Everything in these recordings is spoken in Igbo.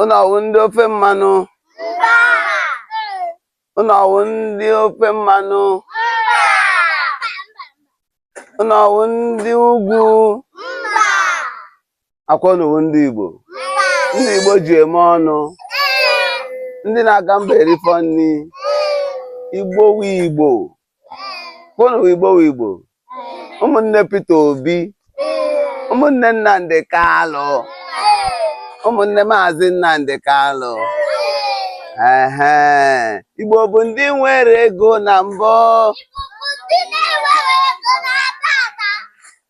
Unu ọwụ ndị ofe mmanụ? Unu ọwụ ndị ofe mmanụ? Unu ọwụ ndị ugwu? Akwa unu wụ ndị Igbo? Ndị Igbo ji eme ọnụ? Ndị na-aga mba erifọ nri? Igbo wu Igbo? Akwa unu wụ Igbo wụ Igbo ụmụnne Peter Obi ụmụnne Nnamdi Kalụ ụmụnne Maazị Nnamdi Kalụ ehe Igbo bụ ndị nwere ego na mbụ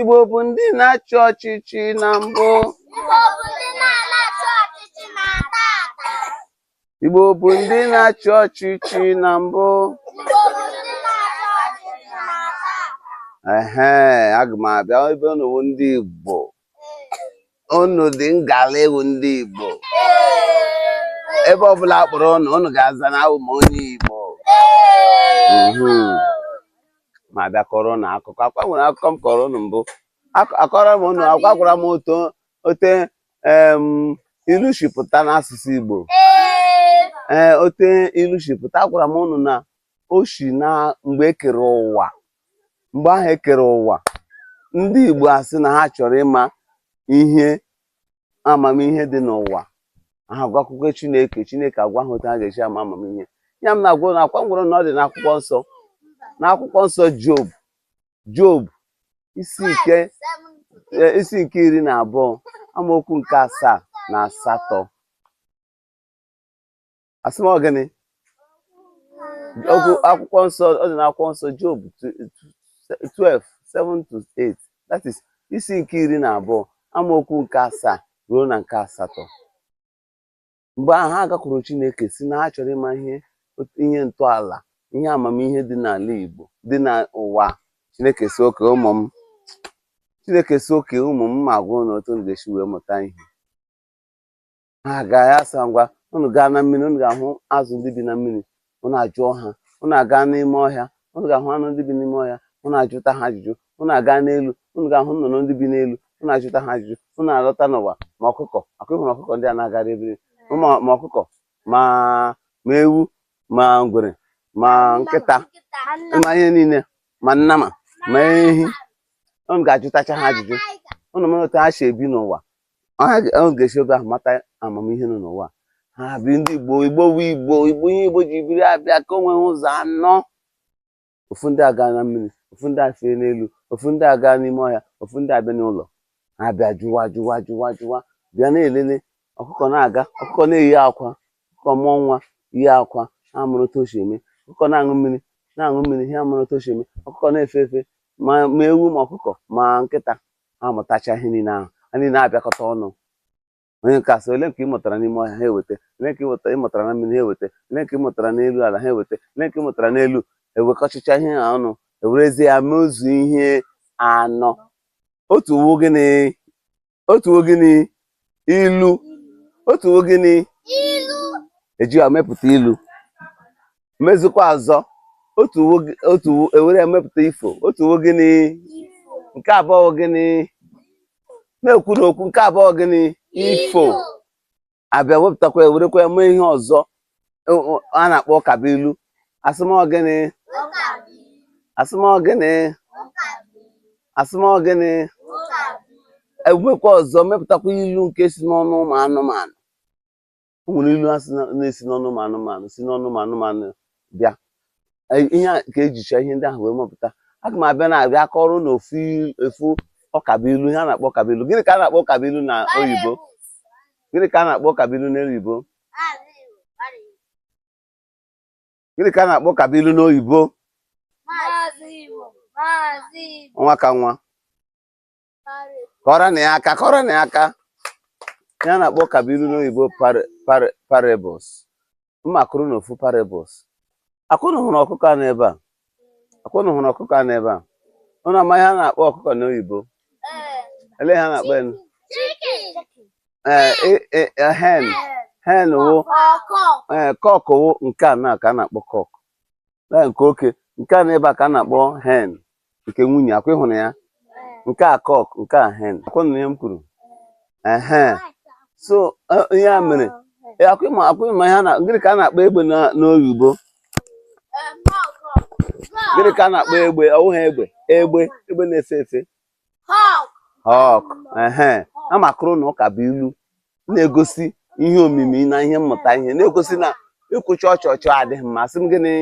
Igbo bụ ndị na-achị ọchịchị na mbụ Igbo bụ ndị na-achị ọchịchị na mbụ ehe aga m abịa ebe unu bụ ndị Igbo unu dị ngala ịwụ ndị Igbo ebe ọbụla a kpọrọ ụnụ ụnụ ga-aza na awụ m onye Igbo ma abịa kọrọ ụnụ akụkọ akwa nwere akụkọ m kọrọ ụnụ mbụ akọrọ m ụnụ akwa agwara m otu ote ilu shi pụta n'asụsụ Igbo ee ote ilu shi pụta agwara m ụnụ na o shi na mgbe e kere ụwa mgbe ahụ e kere ụwa ndị Igbo asị na ha chọrọ ịma ihe amamihe dị n'ụwa ha agakwuru Chineke Chineke agwa ha otu ha ga-eshi ama amamihe ihe a m na-agwa unu akwa m gwara unu na ọ dị n'akwụkwọ nsọ n'akwụkwọ nsọ Job Job isi nke e, isi nke iri na abụọ amaokwu nke asaa na asatọ asị m ọ gịnị okwu akwụkwọ nsọ ọ dị n'akwụkwọ nsọ Job 12 7 to 8 that is isi nke iri na abụọ amaokwu nke asaa ruo na nke asatọ mgbe ahụ ha agakwuru Chineke sị na ha chọrọ ịma ihe ihe ntọala ihe amamihe dị n'ala Igbo dị n'ụwa Chineke sị okay ụmụ m Chineke sị okay ụmụ m ma agwa unu otu unu ga-eshi wee mụta ihe ha aga ya asị ha ngwa unu gaa na mmiri unu ga-ahụ azụ ndị bi na mmiri unu ajụọ ha unu aga n'ime ọhịa unu ga-ahụ anụ ndị bi n'ime ọhịa unu ajụta ha ajụjụ unu aga n'elu unu ga-ahụ nnụnụ ndị bi n'elu unu ajụta ha ajụjụ unu alọta n'ụwa ma ọkụkọ akụ ịhụrụ ọkụkọ ndị a na-agara ebiri ma ma ọkụkọ ma ma ewu ma ngwere ma nkịta ma ihe niile ma nnama ma ehi unu ga-ajụtacha ha ajụjụ unu mara otu ha shi ebi n'ụwa unu ga-esi ebe ahụ mata amamihe nọ n'ụwa ha bi ndị igbo igbo wụ igbo igbo ihe igbo ji biri abịa kewee ụzọ anọ ofu ndị aga na mmiri ofu ndị afee n'elu ofu ndị aga n'ime ọhịa ofu ndị abịa n'ụlọ ha bịa jụwa jụwa jụwa jụwa bịa na-elele ọkụkọ na-aga ọkụkọ na-eyi akwa ọkụkọ mụọ nwa yi akwa ha mụrụ otu o si eme ọkụkọ na-aṅụ mmiri na-aṅụ mmiri ha mụrụ otu o si eme ọkụkọ na-efe efe ma ma ewu ma ọkụkọ ma nkịta ha mụtacha ihe niile ahụ ha niile abịakọta ọnụ onye nke asị ole nke ị mụtara n'ime ọhịa ha eweta ole nke ị mụtara na mmiri ha eweta ole nke ị mụtara n'elu ala ha eweta ole nke ị mụtara n'elu ewekọchicha ihe ha ọnụ ewerezie ya mezuo ihe anọ otu wụ gịnị otu wụ gịnị ilu otu wụ gịnị ilu eji ya mepụta ilu mezikwa ọzọ otu ewere ya mepụta ifo otu wụ gịnị nke abụọ gịnị na-ekwu n'okwu nke abụọ gịnị ifo abịa wepụtakwa ewerekwa ya mee ihe ọzọ a na-akpọ ụkabụilu asị m ọ gịnị asị m ọ gịnị asị m ọ gịnị ewee mekwa ọzọ mepụtakwa ilu nke si n'ọnụ ụmụ anụmanụ o nwere ilu na-esi n'ọnụ ụmụ anụmanụ si n'ọnụ ụmụ anụmanụ bịa e, ihe a ka ejicha ihe ndị ahụ wee mepụta aga m abịa na-abịa kọrọ unu ofu ụkabụilu ihe a na-akpọ ụkabụilu gịnị ka a na-akpọ ụkabụilu na oyibo gịnị ka a na-akpọ ụkabụilu na oyibo gịnị ka a na-akpọ ụkabụilu n'oyibo nwa ka nwa kụọrọ nụ ya aka kụọrọ nụ ya aka ihe a na-akpọ ụkabụilu n'oyibo parables mma akọrọ unu ofu parables akwa unu hụrụ ọkụkọ a n'ebe a Akwa unu hụrụ ọkụkọ a n'ebe a? Unu ama ihe a na-akpọ ọkụkọ n'oyibo? Ele ihe a na-akpọ enu? Ee, hen hen wụ ee cock wụ nke a na ka a na-akpọ cock na nke oke nke a n'ebe a ka a na-akpọ hen nke nwunye akwa ị hụrụ ya nke a cock nke a hen akwa unu nụ ihe m kwuru ehe so eh, ihe a mere eh, akwa ị ma akwa ị ma ihe a na gịnị ka a na-akpọ egbe na- n'oyibo gịnị ka a na-akpọ egbe ọ wụghị egbe egbe egbe na-efe efe hawk ehe a m akọrọ unu ụka bụ ilu na-egosi ihe omimi na ihe mmụta ihe na-egosi na ikwu chọchọchọ adịghị mma sị m gịnị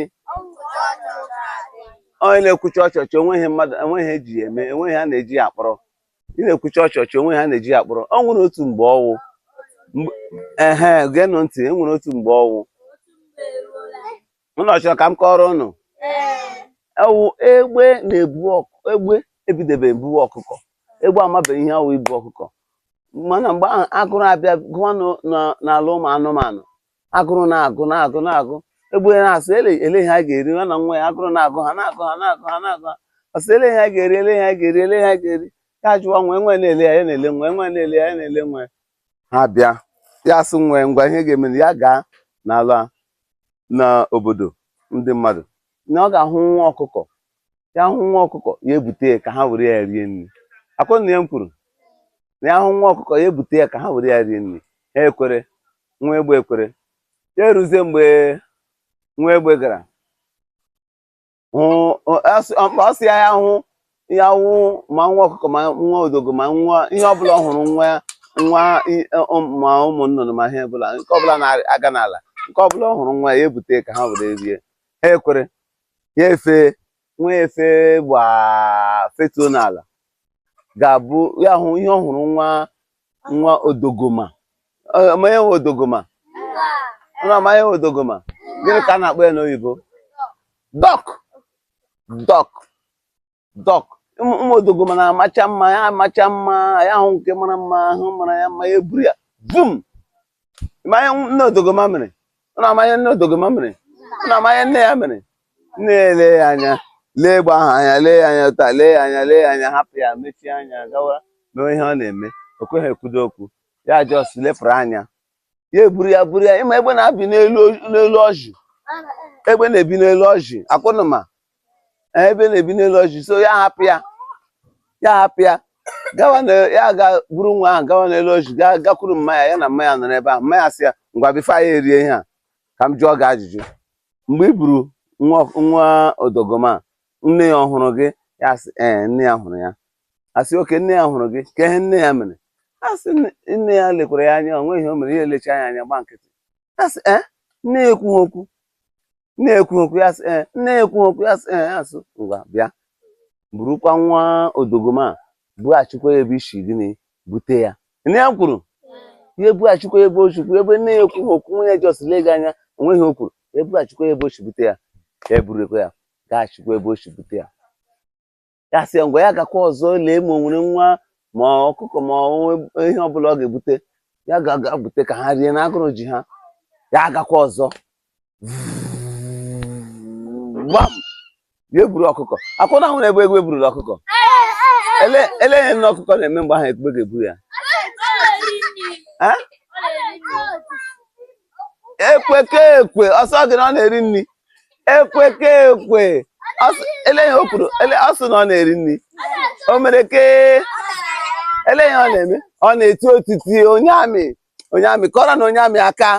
onye na-ekwu chọchọchọ enweghị mmadụ enweghị ihe eji ya eme enweghị ihe a na-eji ya akpọrọ ị na-ekwuchi ọchọchọ onwe ha na-eji akpọrọ ọ nwere otu mgbe ọwụ ehe geenụ ntị e nwere otu mgbe ọwụ ụnụ ọ chọrọ ka m kọrọ ụnụ ọwụ egbe na-ebu egbe ebidebeghị ibu ọkụkọ egbe amabeghị ihe ọwụ ibu ọkụkọ mana mgbe ahụ agụrụ abịa gụọ n'ala ụmụ anụmanụ agụrụ na-agụ na-agụ na-agụ egbe na-asị ele ele ihe a ga-eri ya na nwa ya agụrụ na-agụ ha na-agụ ha na-agụ ha na-agụ ha ọsị ele ihe a ga-eri ele ihe a ga-eri ele ihe a ga-eri ya jụwa nwa ya nwa ya na-ele ya ya na-ele nwa ya nwa ya na-ele ya ya na-ele nwa ya ha bịa ya asị nwa ya ngwa ihe ga-eme ya gaa n'ala n'obodo ndị mmadụ na ọ ga-ahụ nwa ọkụkọ ya hụ nwa ọkụkọ ya ebute ya ka ha were ya rie nri akwa ụnụ anụ ihe m kwuru na ya hụ nwa ọkụkọ ya ebute ya ka ha were ya rie nri ha ekwere nwa egbe ekwere ya eruzie mgbe nwa egbe gara ọsị ya ya hụ ya hụ ma nwa ọkụkọ ma nwa odogoma nwa ihe ọbụla ọ hụrụ nwa nwa ma ụmụ nnụnụ ma ihe ọbụla nke ọbụla na-aga n'ala nke ọbụla ọ hụrụ nwa ya ebute ka ha were rie ha ekwere ya efe nwa ya efe gbaa fetuo n'ala ga-abụ ya hụ ihe ọ hụrụ wụ nwa odogoma ụnụ ama ihe wụ odogoma ụnụ ama ihe wụ odogoma gịnị ka a na-akpọ ya n'oyibo dọk dọk dọk ụmụ odogoma na-amacha mma ya amacha mma ya ahụ nke mara mma ahụ mara ya mma ya eburu ya vum ụnụ ama ihe nne odogoma mere ụnụ ama ihe nne odogoma mere ụnụ ama ihe nne ya mere nne ya ele ya anya lee egbe ahụ anya lee ya anya taa lee ya anya lee ya anya hapụ ya mechie anya gawa mee ihe ọ na-eme o kweghị ekwudo okwu ya jos lepụrụ anya ya eburu ya buru ya ị ma egbe na-ebi n'elu n'elu ọjị egbe na-ebi n'elu ọjị akwa ụnụ ma Ee, egbe na-ebi n'elu ọjị so ya hapụ ya ya hapụ ya gawa na ya ga buru nwa ahụ gawa n'elu ọjị ga gakwuru mma ya ya na mma ya nọrọ ebe ahụ mma ya sị ya ngwa bifo anyị erie ihe a ka m jụọ gị ajụjụ mgbe i buru nwa nwa odogoma nne ya ọ hụrụ gị ya sị ee nne ya hụrụ ya asị oke nne ya hụrụ gị kee ihe nne ya mere asị nne ya lekwara ya anya onweghị ihe o mere ya elecha ya anya gba nkịtị asị e eh, nne ya ekwughị okwu nne ya ekwughị okwu ya asị e eh, nne ya ekwughị okwu ya asị e eh, asị ngwa bịa burukwa nwa odogoma bughachikwa ya ebe i si gịnị bute ya nne ya kwuru ya ebughachikwa ya ebe o si buru ebe nne ya ekwughị okwu nne ya jọs lee gị anya onweghị o kwuru ya ebughachikwa ya ebe o si bute ya ya eburukwa ya gaghachikwa ebe o si bute ya ya sị ya ngwa ya gakwa ọzọ lee ma o nwere nwa ma ọkụkọ ma ọ nwe- ihe ọbụla ọ ga-ebute ya ga-aga bute ka ha rie na agụrụ ji ha ya agakwa ọzọ gbam ya eburu ọkụkọ akwụna ahụ na egbe egbe eburula ọkụkọ ele ele ihe nne ọkụkọ na-eme mgbe ahụ egbe ga-ebu ya Eh? ekweke ekwe ọ sị gị na ọ na-eri nri ekweke ekwe elee ihe o kwuru ọ sị na ọ na-eri nri o mere ke elee ihe ọ na-eme ọ na-eti otiti onye amị onye amị kụọrọ nụ onye amị aka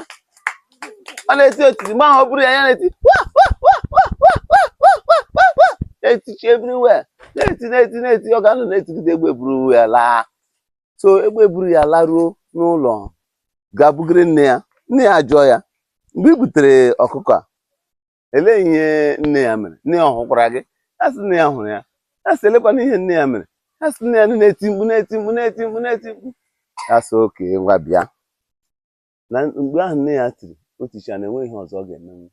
ọ na-eti otiti mgbe ahụ o buru ya ya na-eti na-etichi everywhere na-eti na-eti na-eti ọ ga-anọ na-etigide egbe buru ya laa so egbe buru ya laruo n'ụlọ ga bugiri nne ya nne ya jụọ ya mgbe i butere ọkụkọ a elee ihe nne ya mere nne ya ọ hụkwara gị ya sị nne ya hụrụ ya ya sị elekwana ihe nne ya mere ya sị nne ya nọ na-eti mkpu na-eti mkpu na-eti mkpu na-eti mkpu ya sị okay ngwa bịa na mgbe ahụ nne ya tiri o ticha na enweghị ihe ọzọ ọ ga-emenwu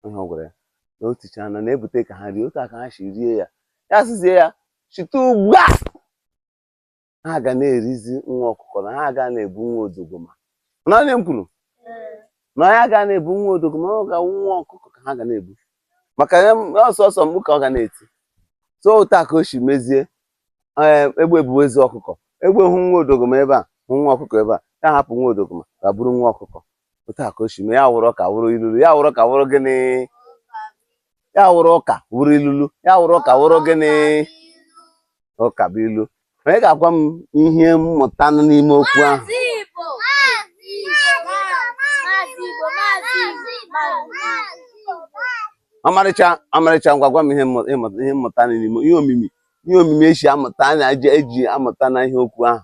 ihe ọ gwara ya na o ticha na na-ebute ka ha rie otu a ka ha si rie ya ya sịzie ya site ugbu a ha ga na-erizi nwa ọkụkọ na ha aga na-ebu nwa odogoma na onye m kwuru na ya aga na-ebu nwa odogoma ọ ga-awụ nwa ọkụkọ ka ha ga na-ebu maka ọ sọsọ mkpu ka ọ ga na-eti so otu a ka o si mezie eh, egbe buwezie ọkụkọ egbe hụ nwa odogoma ebe a hụ nwa ọkụkọ ebe a ya hapụ nwa odogoma ga buru nwa ọkụkọ otu a ka o si mee ya wụrụ ụka wụrụ ilulu ya wụrụ ụka wụrụ gịnị ya wụrụ ụka wụrụ ilulu ya wụrụ ụka wụrụ gịnị ụka bụ ilu onye ga-agwa m ihe mmụta nọ n'ime okwu ahụ Maazị Igbo. Maazị Igbo. Maazị Igbo. Maazị Igbo. ọmarịcha ọmarịcha ngwa gwa m ihe mmụ- ịmụ- ihe mmụta nọ n'ime ihe omimi ihe omimi esi amụta a na-eji eji amụta na ihe okwu ahụ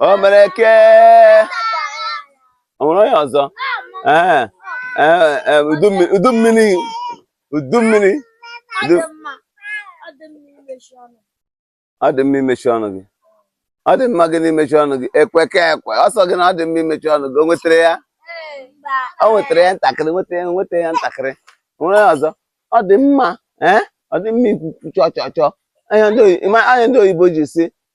o mere ke o nwere onye ọzọ ee ee ee, udu mmi- udu mmiri udu mmiri udu ọ dị mma imechi ọnụ gị ọ dị mma gịnị imechi ọnụ gị ekweke ekwe ọ sị gị na ọ dị mma imechi ọnụ gị o nwetara ya o nwetara ya ntakịrị nweta ya nweta ya ntakịrị O nwere onye ọzọ ọ dị mma ee ọ dị mma ikwu okwu chọọ chọọ chọọ anya ndị oyi- ịma- anya ndị oyibo ji sị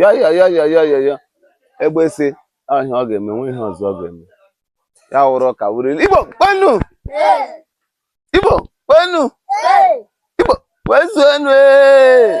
ya ya ya ya ya ya ya egbe si ahụ ihe ọ ga-eme nwe ihe ọzọ ọ ga-eme ya wụrụ ụka wụrụ ilu igbo kwenu igbo kwenu igbo kwezuenu ee